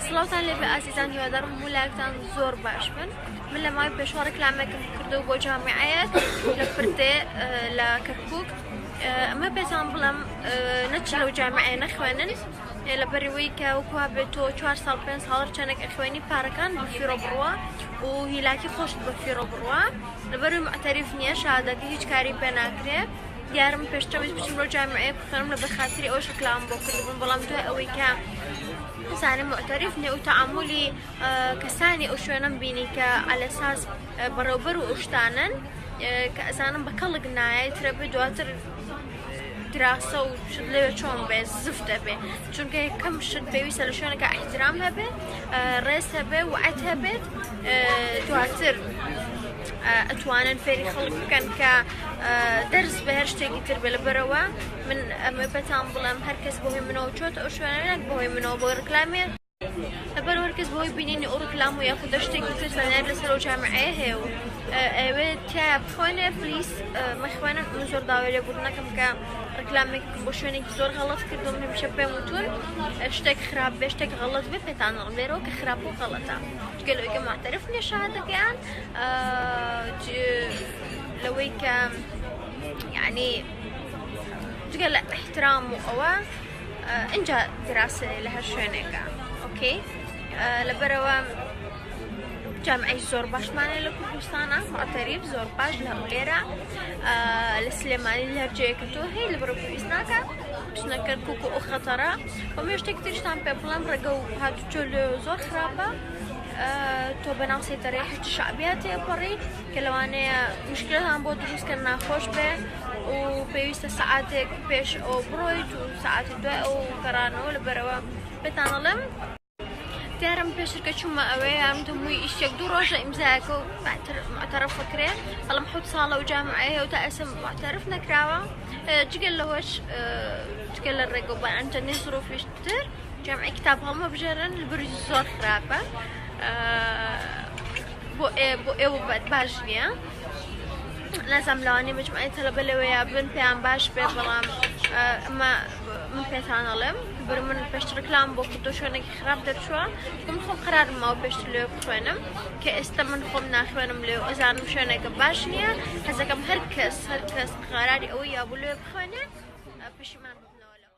سڵاوتان لێبێ ئازیزان هیوادارم هەموو لایەکتان زۆر باش بن من لە مای پێشوە ڕکلامێکم کردو بۆ جامعەت لە پردێ لە کەکوک ئەمە پێتان بڵم نەچ لەو جامعە نەخوێنن لە بەرەوەی کە وکووا بێت تۆ چوار ساڵ پێ ساڵر چەندێک ئەخوێنی پارەکان بە فیرۆ بڕوە و هیلاکی خۆشت بە فیرۆ بڕوە لەبەروی مەعتەریف نییە شادەتی هیچ کاری پێ ناکرێت دیارم پێشتەویست بچم بۆ جامعەیە بخوێنم لە بەخاتری ئەوش کلاوم بۆ کردبووم بەڵام دوای ئەوەی کە بزانم معتەریف نێ و تەعاملی کەسانی ئەو شوێنم بینی کە ئەلەساس بەڕێوبەر و ئوشتانن کە ئەزانم بە کەڵک نایە ترە بێ دواتر دراسە و شت لەوێ چۆن بێ زف دەبێ چونکە کەم شت پێویستە لە شوێنەکە ئەحترام هەبێ ڕێز هەبێ وعەت هەبێت دواتر. ئەتوانن فێری خەڵک بکەن کە دەرز بە هەر شتێکی تر بێ لەبەرەوە من ئەمە پێتان بڵێم هەرکەس بۆی منەوە چۆت ئەو شوێنەک بەهۆی منەوە بۆی ڕکلامێ لەبەر هەرکەس بۆی بینینی ئەو ڕکلام و یاخود شتێکی تر زانیار لەسەر و جامعەیە هەیە و ئەوێ تیا بخۆێنێ پلیس مەخوێنە من زۆر داوای لێ بوو نەکەم کە ڕکلامێک بۆ شوێنێکی زۆر غەڵەت کردم هەمیشە پێم وتون شتێک خراپ بێ شتێک غەڵەت بێ پێتان ڕڵێرەوە کە خراپ و غەڵەتە. گەلۆ گە ماتەرف نێ شادە گەیان لەوەی کە یعنی جگە لە احترام و ئەوە اینجا دراسێ لە هەر شوێنێکە ئۆکەی لەبەرەوە جامعی زۆر باشمانێ لە کوردستانە ماتەریب زۆر باش لە هەولێرە لە سلێمانی لەرجەیەکە تۆ هەیە لە بڕۆ پێویست ناکە پشنەکە کوک و خەتەرە بە مێ شتێک ترشتان پێ بڵێم ڕێگە و هاتوچۆ لێ زۆر خراپە تۆ بەناو سێتەرەی حشت شعبیا تێپەڕی کە لەوانەیە مشکلتان بۆ دروستکە ناخۆش بێ و پێویستە سعاتێک پێش ئەو بڕۆیت و سعاتی دوای ئەو گەڕانەوە لە بەرەوە پێتانەڵێم دیارم پێشتر کە چوومە ئەوێ یارم دەمووی ئیشێک دوو ڕۆژە ئیمزایەکە و باتر معتەرف بکرێ بەڵام حوت ساڵە و جامعەیە و تا ئێسم معتەرف نەکراوە جگەل لەوەش جگە لە ڕێگە و بەئەنجەنی زرۆفیش تر جامعی کتاب هەڵمە بژێرن بروز زۆر خراپە بۆ ئێ بۆ ئێوە باش نییە. نازام لەوانی مجموعی تەلەبە لەوەیە بن پێیان باش بێ بەڵام ئەمە من پێتان ئەڵێم بر من پێشت ڕکلام بۆ کردو شوێنێکی خراپ دەرچووە من خۆم قرار ماوە پێشت لێ بخوێنم کە ئێستا من خۆم ناخوێنم لێ ئەزانم شوێنێکە باش نییە حەزەکەم هەر کەس هەر کەس قراری ئەوەی یابوو لێ بخوێنێ پشیمان